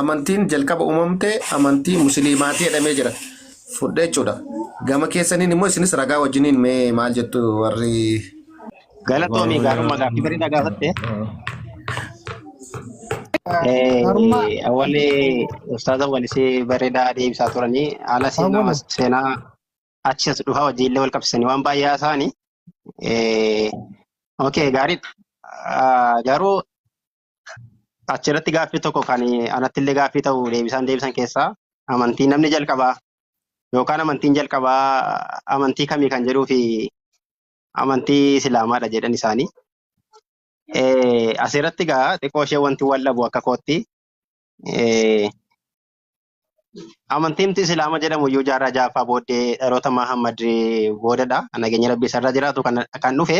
amantiin jalqaba uumamte amantii musliimaatii jedhamee jira. Fudhee jechuudha. Gama keessaniin immoo isinis ragaa wajjiniin mee maal jettu warri Galatoomii gaarummaa gaaffii bareedaa gaafatte. Gaarummaa Eh, Awwalee ustaaza walisee bareedaa deebisaa turanii haala seenaa awwala. seenaa achi as dhufaa wajjin illee wal qabsiisanii waan baay'ee haasa'ani. Eh, Okay, gaariidha. Ah, Garuu Achirratti gaaffii tokko kan anatti illee gaaffii ta'u deebisaan deebisan keessaa amantii namni jalqabaa yookaan amantiin jalqabaa amantii kamii kan jedhuu fi amantii islaamaadha jedhan isaanii. Eh, Asirratti egaa xiqqoo ishee wanti wal dhabu akka kootti eh, amantiin nuti islaama jedhamu iyyuu jaarraa ja'affaa booddee dhaloota Mahammad boodadha. Nageenya rabbii isarra jiraatu kan, kan dhufe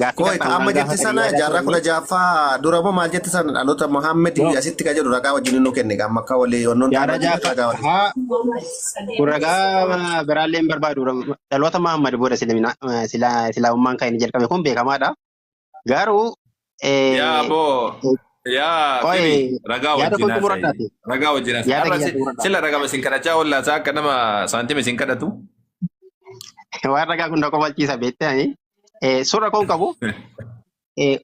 Gaaffii Kooy kan kan amma waan jette gaafatan sana yaada jaarraa kudha turanii ja'affaa dura moo maal jette sana dhaloota Mohaammed yoo asitti ka jedhu ragaa wajjin nu kenne amma akka walii wannoon taane jaarraa wajjin ragaa wajjin. ja'affaa kun ragaa biraallee hin barbaadu dhaloota Mahammad booda silaa islaamummaan kan inni jalqabe kun beekamaadha. Garuu Yaa eh, boo eh, yaa qoy dhibi ragaa yaada wajjin koo xumura haasa'i taate ragaa wajjin haasa'i yaada har'a kiyya si- xumura taate sila ragama isin kadhachaa oollaa isaa akka nama saantima isin kadhatu waan ragaa kun na kofalchiisa beektee ani eh, surra koon qabu eh,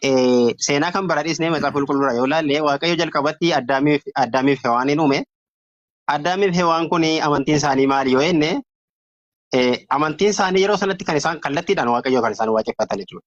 eh, seenaa kan bara dhiisnee macaafa qulqulluura yoo laalle waaqayyo jalqabatti addaamiif addaamiif hewaaniin uume addaamiif hewaan kun amantiin isaanii maali yoo jenne eh, amantiin isaanii yeroo sanatti kan isaan kallattiidhaan waaqayyo kan isaan waaqeffatan jechuudha.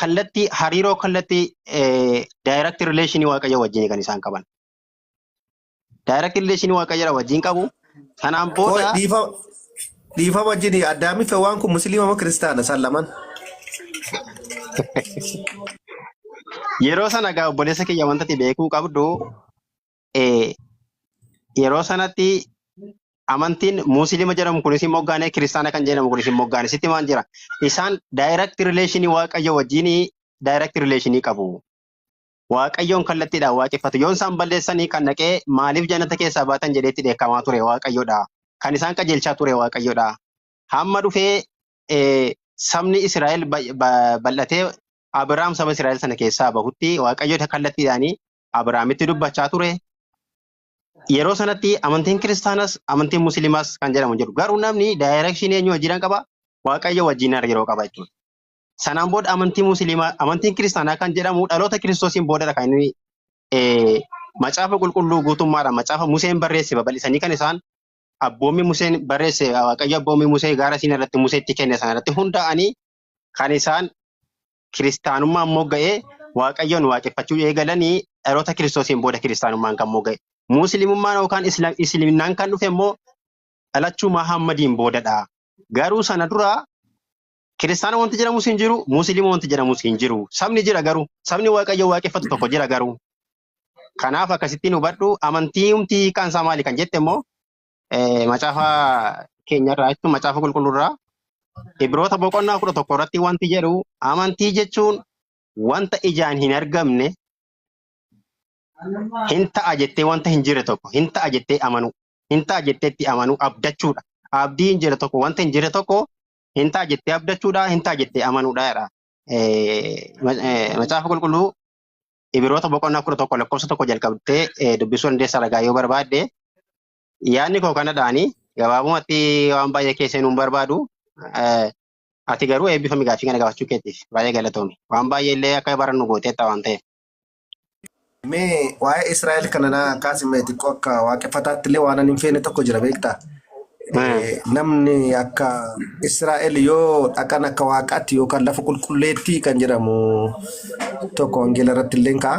kallattii hariiroo kallattii direct relation waaqayyo wajjin kan isaan qaban. Direct relation waaqayyo wajjin qabu. Sanaan Qoy booda dhiifa dhiifa wajjin addaamiif waan kun musliima moo kiristaana isaan lamaan. yeroo sana egaa obboleessa kiyya wanta ati beekuu qabdu eh, yeroo sanatti amantiin muusilima jedhamu kunis hin moggaane kiristaana kan jedhamu kunis hin moggaane sitti maal jira isaan direct relation waaqayyo wajjin direct relation qabu waaqayyoon kallattiidhaan waaqeffatu yoon isaan balleessanii kan dhaqee maaliif jannata keessaa baatan jedheetti dheekkamaa ture waaqayyodha kan isaan qajeelchaa ture waaqayyodha hamma dhufee eh, sabni Israa'el bay- ba- bal'atee Abiraam saba Israa'el sana keessaa bahutti waaqayyo kallattiidhaan Abrahaamitti dubbachaa ture. Yeroo sanatti amantiin kiristaanas amantiin musliimaas kan jedhamu hin jiru. Garuu namni daayireekshinii eenyu wajjinan qaba? Waaqayyo wajjin hariiroo qaba jechuudha. Sanaan booda amantii musliimaa, amantiin kiristaanaa kan jedhamu dhaloota kiristoosiin boodadha kan inni eh, macaafa qulqulluu guutummaadhaan macaafa Museen barreesse babal'isanii kan isaan abboommii Museen barreesse Waaqayyo abboommii Musee gaara siin irratti Museetti kenne sana irratti hundaa'anii kan isaan kiristaanummaan mogga'e Waaqayyoon waaqeffachuu eegalanii dhaloota kiristoosiin booda kiristaanummaan kan mogga'e. Muslimummaan yookaan Isla- Isliminnaan kan dhufe immoo dhalachuu Mahaammadiin boodadha. Garuu sana dura kiristaana wanti jedhamus hin jiru, muslima wanti jedhamus hin jiru. Sabni jira garuu, sabni Waaqayyo waaqeffatu tokko jira garuu. Kanaaf akkasittiin hubadhu amantii humti hiikaan isaa maali kan jette immoo Eh, Macaafa keenyarraa jechuun macaafa qulqulluurraa Ibroota boqonnaa kudha tokko irratti wanti jedhu amantii jechuun wanta ijaan hin argamne hin ta'a jettee wanta hin jirre tokko hin ta'a jettee amanuu hin ta'a jettee itti amanuu abdachuudha. Abdii hin jirre tokko wanta hin jirre tokko hin ta'a jettee abdachuudha hin ta'a jettee amanuudha jedha. Eh, ma- eh, Macaafa qulqulluu Ibiroota boqonnaa kudha tokko lakkoofsa tokko jalqabdee eh, dubbisuu dandeessa ragaa yoo barbaadde. Yaadni koo kanadhaani gabaabumatti waan baay'ee keessa hin barbaadu. Eh, Ati garuu eebbifami gaaffii kana gaafachuu keetiif baay'ee galatoomi. Waan baay'ee illee akka barannu gooteetta waan ta'eef. Mee waa'ee Israa'el kana naa kaasime xiqqoo akka waaqeffataatti illee waan ani hin feene tokko jira beektaa? Namni akka Israa'el yoo dhaqan akka waaqaatti yookaan lafa qulqulleetti kan jedhamu tokko wangeela irratti illee ka'a.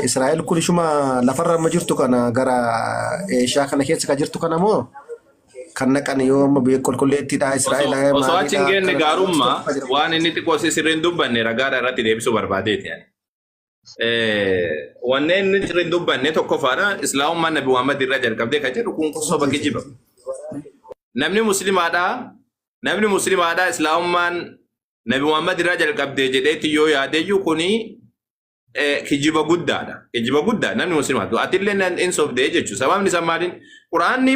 Israa'el kun ishuma lafarra amma jirtu kana gara Eeshiyaa kana keessa kan jirtu kana moo kan naqan yoo amma biyya qulqulleettiidha Israa'el Osoo achi hin geenne gaarummaa waan inni xiqqoo si sirriin dubbanne ragaadha irratti deebisuu barbaadeeti. Eh, wanneen inni irra hin dubbanne tokkoffaadha islaamummaan nabi muhammad irraa jalqabdee kan jedhu kun soba kijiba namni muslimaadha namni muslimaadha islaamummaan nabi muhammad irraa jalqabdee jedheetti yoo yaadeyyuu kuni eh, kijiba guddaadha kijiba guddaa namni muslimaatu atillee nan- hin sobdee jechuudha sababni isaa maaliin quraanni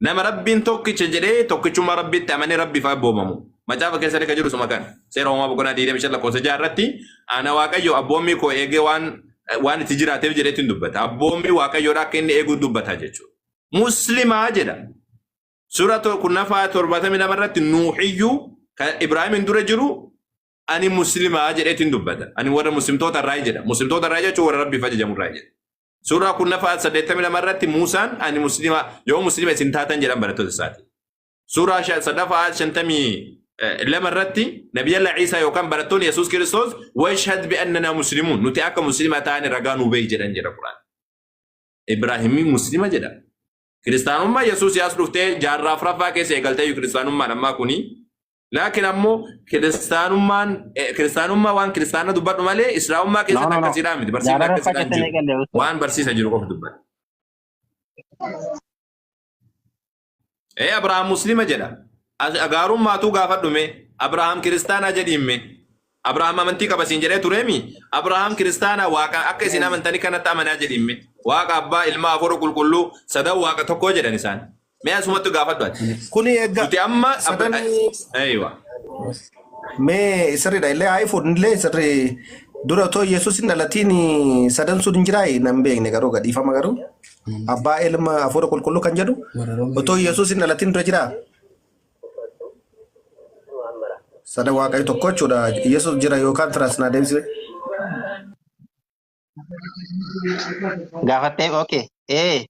Nama rabbiin tokkicha jedhee tokkichummaa rabbiitti amanee rabbiif abboomamu. Macaafa keessatti kan jiru suma kan seera uumaa boqonnaa 25 lakkoofsa 6 irratti ana waaqayyo abboommii koo eegee waan waan itti jiraateef jedheetti hin dubbata. Abboommii waaqayyoodha akka inni eeguu dubbata jechuudha. Muslimaa jedha. Suura kurnaffaa 72 irratti nuuxiyyuu kan Ibraahimin dura jiru ani muslimaa jedheetti hin dubbata. Ani warra muslimtoota irraa jedha. Muslimtoota irraa jechuun warra rabbiif ajajamu irraa jedha. Suuraa kurnaffaa 82 irratti Muusaan ani muslima yoo muslima isin taatan jedhan barattoota isaati. Suuraa shan- sadaffaa 52 irratti Nabiyalla Ciisaa yookaan barattoonni Yesuus Kiristoos washhad bi'annanaa muslimuun nuti akka muslima taane ragaa nuu beeyi jedhan jedha Quraan. Ibraahimii muslima jedha. Kiristaanummaa Yesuus yaas dhuftee jaarraa afraffaa keessa eegaltee kiristaanummaan ammaa kuni Laakiin ammoo kiristaanummaan eh, kiristaanummaa waan kiristaana dubbadhu malee islaamummaa No, keessatti no, no. akkasiidhaa miti. Barsiifni Gaararra akkasiidhaan fakkatanii jiru. galee osoo. Waan barsiisa jiru qofa dubbadha. Ee Abrahaam Muslima jedha. As- Gaarummaatu gaafadhume. Abrahaam kiristaanaa jedhiimme. Abrahaam amantii qaba siin jedhee tureemi? Abrahaam kiristaana waaqa akka isin amantani kanatti amanaa jedhiin mee. Waaqa abbaa, ilmaa, hafuura qulqulluu, sadan waaqa tokkoo jedhan isaan. Mee asumatti gaafadhu ati. Kuni eegga Nuti amma sadanii Eeywa. mee sirriidha illee haa ifu illee sirri dura otoo Yesuus hin dhalatiin sadan sun hin jiraayi nan beekne garuu gadhiifama garuu abbaa ilma hafuura qulqulluu kan jedhu otoo Yesuus hin dhalatiin dura jiraa Sada waaqayyo tokko jechuudha. Yesus jira yookaan tiraas naa deebisee. Gaafattee okay. Ee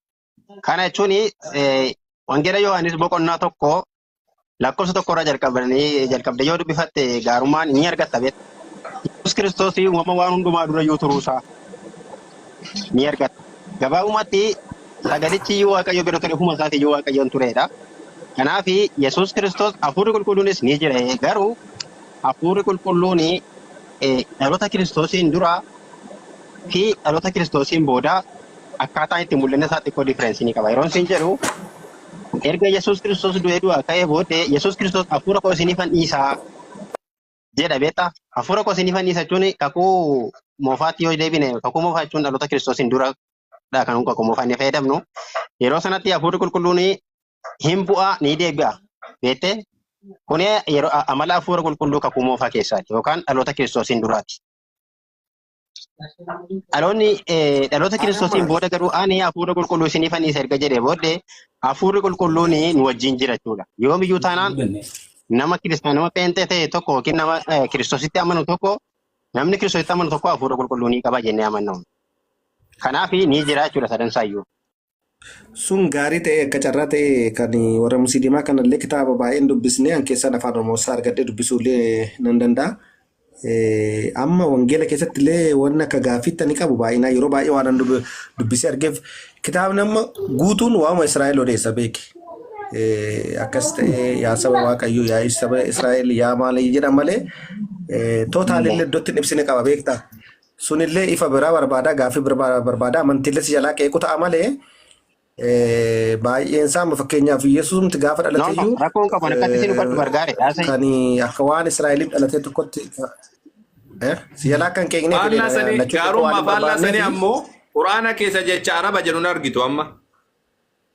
kana jechuun wangeela Yohaannis boqonnaa tokko lakkoofsa tokko irraa jalqabanii jalqabdee yoo dubbifatte gaarummaan ni argatta beekta. Yesus Kiristoos uumama waan hundumaa dura iyyuu turuusaa. ni argatta. Gabaabumatti sagalichi iyyuu Waaqayyo bira ture, ofuma isaati iyyuu Waaqayyoon tureedha. Kanaaf Yesuus Kiristoos hafuurri qulqulluunis ni jira. Garuu hafuurri qulqulluun dhaloota Kiristoosiin dura fi dhaloota Kiristoosiin booda akkaataa itti mul'ina isaa xiqqoo differensii ni qaba. Yeroon siin jedhu erga Yesuus Kiristoos du'ee du'aa ka'ee booddee Yesuus Kiristoos hafuura koo isiniifan dhiisaa jedha beektaa? Hafuura koo isinii fannisa jechuun kakuu moofaatti yoo deebine kakuu moofaa jechuun dhaloota kiristoosiin dura dha kan kakuu moofaa inni fayyadamnu. Yeroo sanatti hafuurri qulqulluun hin bu'a ni deebi'a beektee? Kun yeroo a- amala hafuura qulqulluu kakuu moofaa keessaati yookaan dhaloota kiristoosiin duraati. Dhaloonni eh, dhaloota kiristoosiin booda garuu ani hafuura qulqulluu isiniif anniisa erga jedhee booddee hafuurri qulqulluun nu wajjin jira jechuudha. Yoomiyyuu taanaan nama kiristaan nama pheenxee ta'e tokko yookiin nama eh, kiristoositti amanu tokko namni kiristoositti amanu tokko hafuura qulqulluu ni qaba jennee amanna. Kanaaf ni jira jechuudha sadan isaayyuu. Sun gaarii ta'ee akka carraa ta'ee kan warra musliimaa kanallee kitaaba baay'een dubbisnee an keessaan afaan Oromoo isaa argadhee dubbisuullee nan danda'a. Eh, Amma wangeela keessatti illee waan akka gaaffiitti ani qabu baay'inaa yeroo baay'ee waan an dub- dubbisee argeef kitaabni amma guutuun waa'uma Israa'el odeessa beeki. Eh, Akkas ta'ee yaa saba Waaqayyoo yaa saba Israa'el yaa maal jedhan malee eh, tootaalillee iddootti hin ibsine qaba beektaa. Sunillee ifa biraa barbaada, gaaffii biraa barbaada, amantiillee si jalaa qeequ ta'a malee eh, baay'een isaa amma fakkeenyaaf Yesuusumti gaafa No, no, dhalateyyuu rakkoon qabu ani akkatti isin hubadhu eh, bargaare haasa'e. kan akka waan Israa'eliif dhalatee tokkotti eh, si jalaa akka hin qeeqneef Faallaa jedhee sanii lachuu qeequu waan gaarummaa hin faallaa sanii barbaanneef ammoo quraana keessa jecha araba jedhu hin argitu amma.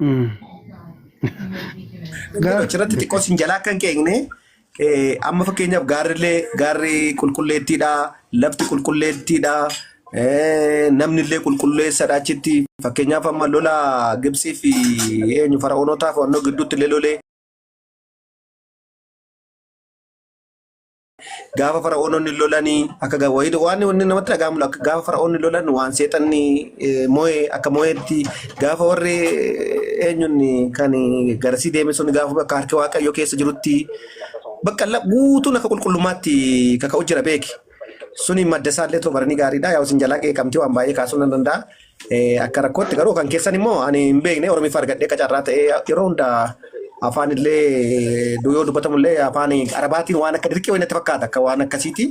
Mm. Garuu Gaaf- achirratti xiqqoo sin jalaa akka hin qeeqne eh, amma fakkeenyaaf gaarrillee gaarri qulqulleettiidha lafti qulqulleettiidha eh, namnillee qulqulleessadha achitti fakkeenyaaf amma lola Gibsii fi eenyu fara'oonotaa fi wannoo gidduutti illee lolee Gaafa fara'oononni lolanii akka ga- wayii- waan inni namatti dhaga'amu akka gaafa fara'oonni lolan waan seexanni eh, moo'e akka moo'etti gaafa warri eh, eenyuun kan garasii deeme sun gaafa bakka harki waaqayyoo keessa jirutti bakka la- guutuun akka qulqullummaatti kaka'u jira beeki. Suni madda isaallee tobaranii gaariidha. Yaa isin jalaa qeeqamtee waan baay'ee kaasuu nan danda'a. Eh, Akka rakkootti garuu kan keessan immoo ani hin beekne Oromiffa argadhee akka carraa ta'ee yeroo hunda afaan illee du- yoo dubbatamu illee afaan Arabaatiin waan akka dirqii wayii natti fakkaata akka waan akkasiiti.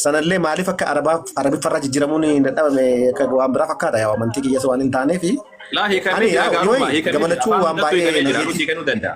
Sanallee maaliif akka Arabaa Arabiffa irraa jijjiiramuun hin dadhabame akka waan biraa fakkaata yaa amantii kiyyas waan hin taaneefi. Laa hiikamni Ani jira yaa gaarummaa yoo hiikamni jira gamalachuu afaan waan hundattuu hiikamee baay'ee jira nagee nuti kennuu danda'a.